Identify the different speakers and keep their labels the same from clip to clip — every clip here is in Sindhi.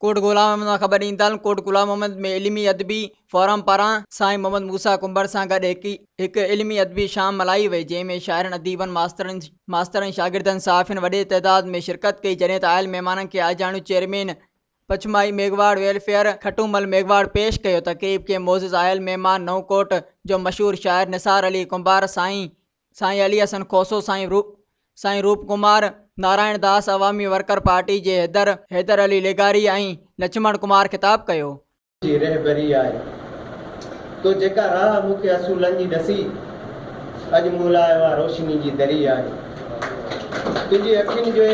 Speaker 1: ڪوٽ گلاب محمد مان خبر ڏيندڙن ڪوٽ گلاب محمد ۾ علمي ادبي فورم پاران سائين محمد موسيٰ ڪنڀر سان گڏ هڪ علمي ادبي شام ملهائي وئي جنهن ۾ شاعرن اديبن ماسترن ماسترن شاگردن صحافين وڏي تعداد ۾ شرڪت ڪئي جڏهن ته آيل مهمانن کي آجياڻو چيئرمين پچماهي ميگهواڙ ويلفيئر کٽومل ميگهواڙ پيش ڪيو ته قريب ڪي معزز آيل مهمان نئون ڪوٽ جو مشهور شاعر نثار علي ڪنڀار سائين سائين علي حسن کوسو سائين روپ سائين روپ ڪمار نارائڻ داس عوامي ورڪر پارٽي جي حيدر حيدر علي لغاري ۽ لڇمڻ ڪمار خطاب ڪيو جي رهبري
Speaker 2: آهي تو جيڪا راهه مون کي اصولن جي ڏسي اڄ مون لاء اها روشني جي دري آهي تنهنجي اکين جي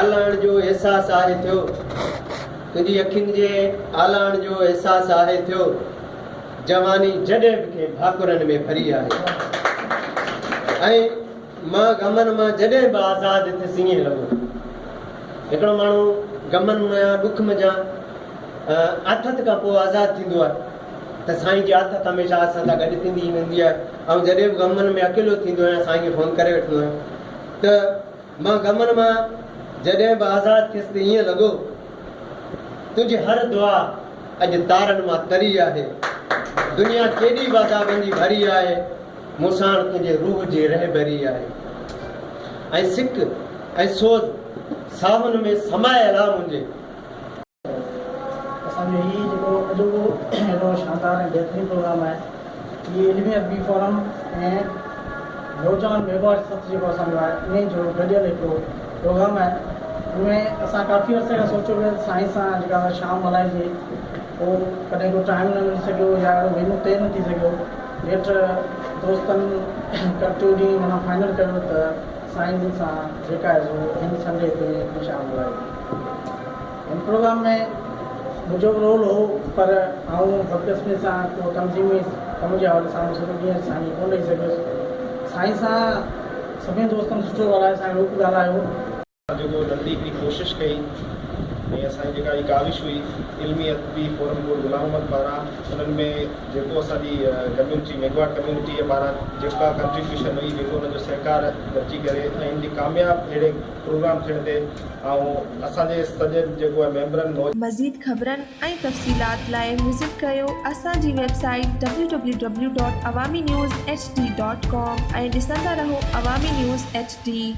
Speaker 2: آلاڻ جو احساس آهي ٿيو تنهنجي اکين جي آلاڻ جو احساس آهي ٿيو جواني جڏهن به ڪنهن ڀاڪرن ۾ ڀري آهي ۽ مان غمن مان جڏهن به آزاد ٿيس ائين لڳو ته هڪڙو ماڻهو غمن مان يا ڏک م جا آٿت کان پوء آزاد ٿيندو آهي ته سائين جي آٿت هميشه اسان سان گڏ ٿيندي ئي ويندي آهي آئون جڏهن به غمن ۾ اڪيلو ٿيندو آهيان سائين کي فون ڪري وٺندو آهيان ته مان غمن مان جڏهن به آزاد ٿيس ته ائين لڳو تنهنجي هر دعا اڄ تارن مان تري آهي دنيا ڪيڏي بازابندي ڀري آهي مون ساڻ تنهنجي روح جي رهبري آهي ۽ سڪ ۽ سوز ساهن ۾ سمايل آ منهنجي.
Speaker 3: اسان جو هي جيڪو اڄوڪو اهڙو شاندار ۽ بهترين پروگرام آهي هي علمي ادبي فورم ۽ نوجوان ميگاواٽ سٿ جيڪو اسان جو آهي انهي جو گڏيل هڪڙو پروگرام آهي ان ۾ اسان ڪافي عرصي کان سوچيو پيو سائين سان جيڪا اسان شام ملهائجي هو ڪڏهن ايڏو ٽائيم نه ملي سگهيو يا اهڙو وينيو طئي نه ٿي سگهيو. نيٺ دوستن ڪرتيو ڏينهن معنيٰ فائنل ڪيو ته سائين جن سان جيڪا آهي سو هن سنڊي تي هن شام جو آهي. هن پروگرام ۾ منهنجو به رول هو پر آئون بدقسمي سان ڪو تنظيمي ڪم جي حوالي سان به سڄو ڏينهن سائين کي ڪونه ڏئي سگهيس. سائين سان سڀني دوستن سٺو ڳالهايو سائين روپ ڳالهايو. جيڪو
Speaker 4: تحريڪ جي ڪوشش ڪئي ۽ اسان جي جيڪا هي ڪاوش هئي علمي ادبي فورم بورڊ غلام محمد پاران انهن ۾ جيڪو اسان جي ڪميونٽي ميگهواڙ ڪميونٽيء پاران جيڪا ڪنٽريبيوشن هئي جيڪو انهن جو سهڪار گڏجي ڪري ۽ ان جي ڪامياب اهڙي پروگرام ٿيڻ تي آئون اسان جي سڄي جيڪو آهي ميمبرن مزيد خبرن
Speaker 5: ۽ تفصيلات لاء وزٽ ڪريو اسان جي website W W W dot Awami news H D dot com ۽ ڏسندا رهو عوامي نيوز ايڇ ڊي.